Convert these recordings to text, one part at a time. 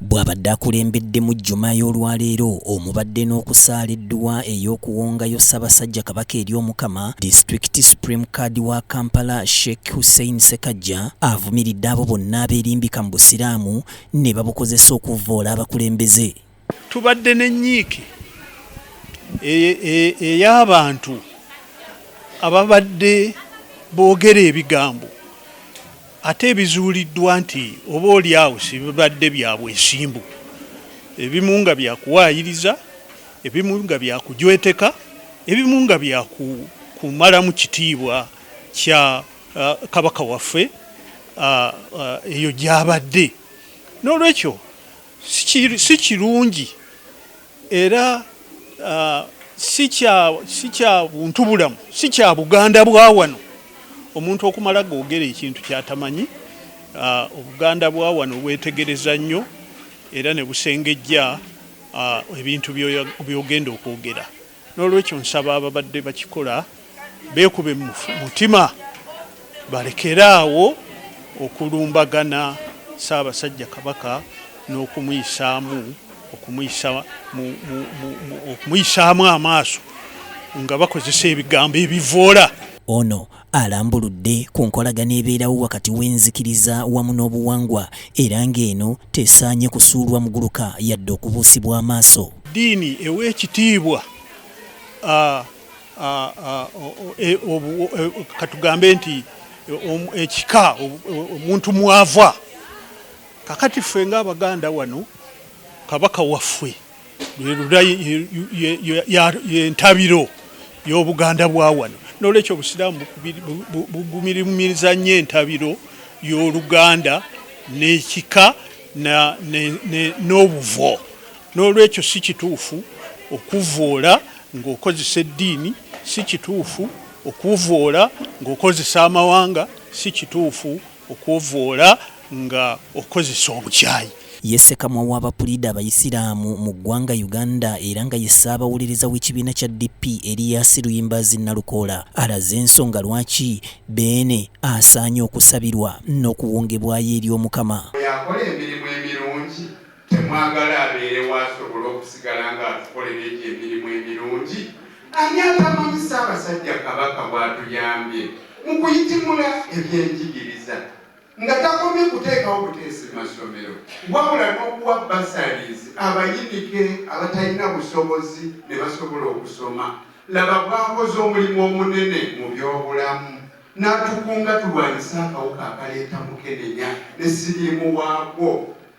bw'abadde akulembedde mu jjuma y'olwaleero omubadde n'okusaala edduwa ey'okuwongayo ssabasajja kabaka eri omukama disitulikiti supreme card wa kampala sheikh hussein sekajja avumiridde abo bonna abeerimbika mu busiraamu ne babukozesa okuvvoola abakulembeze Tubadde n'ennyiike ey'abantu e, e, e, ababadde boogera ebigambo ate ebizuuliddwa nti oba oli awo sibibadde bya bwesimbu ebimu nga byakuwaayiriza ebimu nga byakujweteka ebimu nga byakumalamu kitiibwa kya uh, kabaka waffe uh, uh, eyo gyabadde n'olwekyo si kirungi era uh, si kya buntu bulamu si kya buganda bwa wano omuntu okumala googera ekintu kyatamanyi uh, obuganda bwa wano bwetegereza nnyo era ne busengejja uh, ebintu byogenda okwogera N'olwekyo nsaba ababadde bakikola beekube mu mutima balekere awo okulumbagana Ssaabasajja Kabaka n'okumuyisaamu okumuyisaamu amaaso nga bakozesa ebigambo ebivvoola. Ono alambuludde ku nkolagana ebeerawo wakati w'enzikiriza wamu n'obuwangwa era ng'eno tesaanye kusuulwa muguluka yadde okubuusibwa amaaso. Eddiini ewa ekitiibwa e, e, katugambe nti ekika omuntu mwava kakati ffe ng'Abaganda wano kabaka waffe yentabiro y'obuganda bwa wano nolwekyo obusiraamu bugumirimiriza nnyo entabiro y'oluganda n'ekika n'obuvo n'olwekyo si kituufu okuvvoola ng'okozesa eddiini si kituufu okuvvoola ng'okozesa amawanga si kituufu Okwovoola nga okozesa obukyayi. Ye Ssekamwa wa bapuliida abayisiraamu mu ggwanga Uganda era nga ye ssaabawuliriza w'ekibiina kya DP Erias Luyimbaazi Nalukoola alaze ensonga lwaki Beene asaanye okusabirwa n'okuwongebwayo eri Omukama. Oyo akola emirimu emirungi Temwagala abeerewo asobole okusigala ng'atukoleredde emirimu emirungi? Ani atamanyi Ssaabasajja Kabaka bw'atuyambye mu kuyitimula ebyenjigiriza nga takomye kuteekawo buteesi mu masomero wabula n'okuwa bursaries abayinike abatalina busobozi ne basobola okusoma? Laba bw'akoze omulimu omunene mu byobulamu n'atukunga tulwanyise akawuka akaleeta mukenenya ne siriimu waakwo.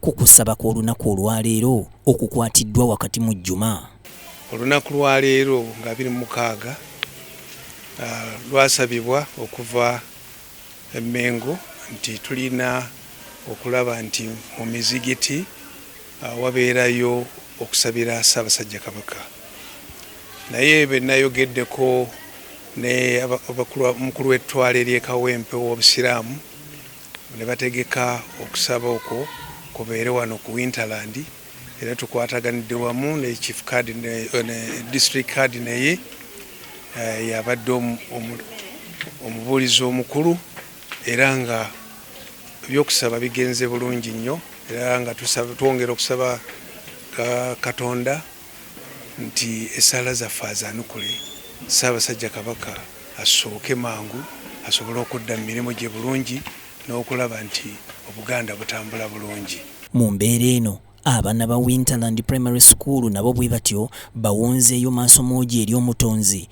ku kusaba kw'olunaku olwaleero okukwatiddwa wakati mu jjuma olunaku lwaleero nga biri mukaaga ah, lwasabibwa okuva emengo nti tulina okulaba nti mu mizigiti ah, wabeerayo okusabira ssaabasajja kabaka naye benayogeddeko ne omukulu w'ettwale ly'ekawempe w'obusiraamu ne bategeka okusaba okwo kubeere wano ku Winterland era tukwataganidde wamu ne chief card ne, ne district card naye uh, yabadde omubuulizi omukulu era nga ebyokusaba bigenze bulungi nnyo era nga twongera okusaba uh, katonda nti essaala zaffe azaanukule, Ssaabasajja Kabaka assuuke mangu asobole okudda mu mirimu gye bulungi n'okulaba nti Obuganda butambula bulungi. Mu mbeera eno, abaana ba Winterland Primary School nabo bwe batyo bawonzeeyo maasomoogi eri Omutonzi.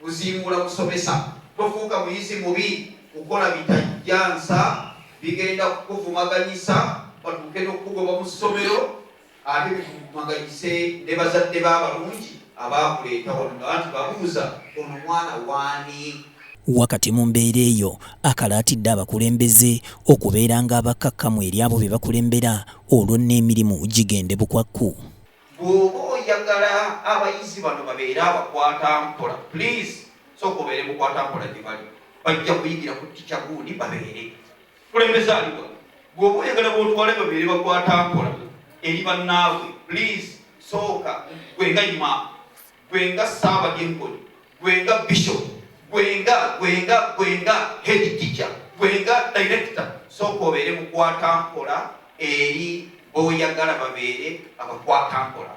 kuzimbula kusomesa tofuuka muyizi mubi kukola bitajjansa bigenda kukuvumaganyisa batuuke nokukugoba mu ssomero ate bikuvumaganyise ne bazadde b'abalungi abaakuleeta wano nga bantu babuuza ono mwana waani wakati mu mbeera eyo akalaatidde abakulembeze okubeeranga abakkakkamu eri abo be bakulembera olwo n'emirimu gigende bukwakku Bwoba oyagala abayizi bano babeere abakwata mpola please sooka obeere mukwata mpola gyebali bajja kuyigira ku tica gundi babeere kulembeza aliwa bwoba oyagala botwale babeere bakwata mpola eri bannaabwe please sooka gwe nga ima gwe nga Ssaabadinkoni, gwe nga Bishop, gwe nga gwe nga gwe nga head teacher, gwe nga director, sooka obeere mukwatampola eri boyagala babeere abakwatampola.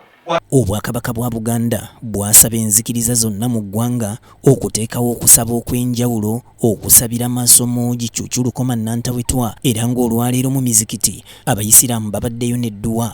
Obwakabaka bwa Buganda bwasaba enzikiriza zonna mu ggwanga okuteekawo okusaba okw'enjawulo okusabira masomo gi Cuucu Lukoma Nantawetwa era ng'olwaleero mu mizikiti abayisiraamu babaddeyo n'edduwa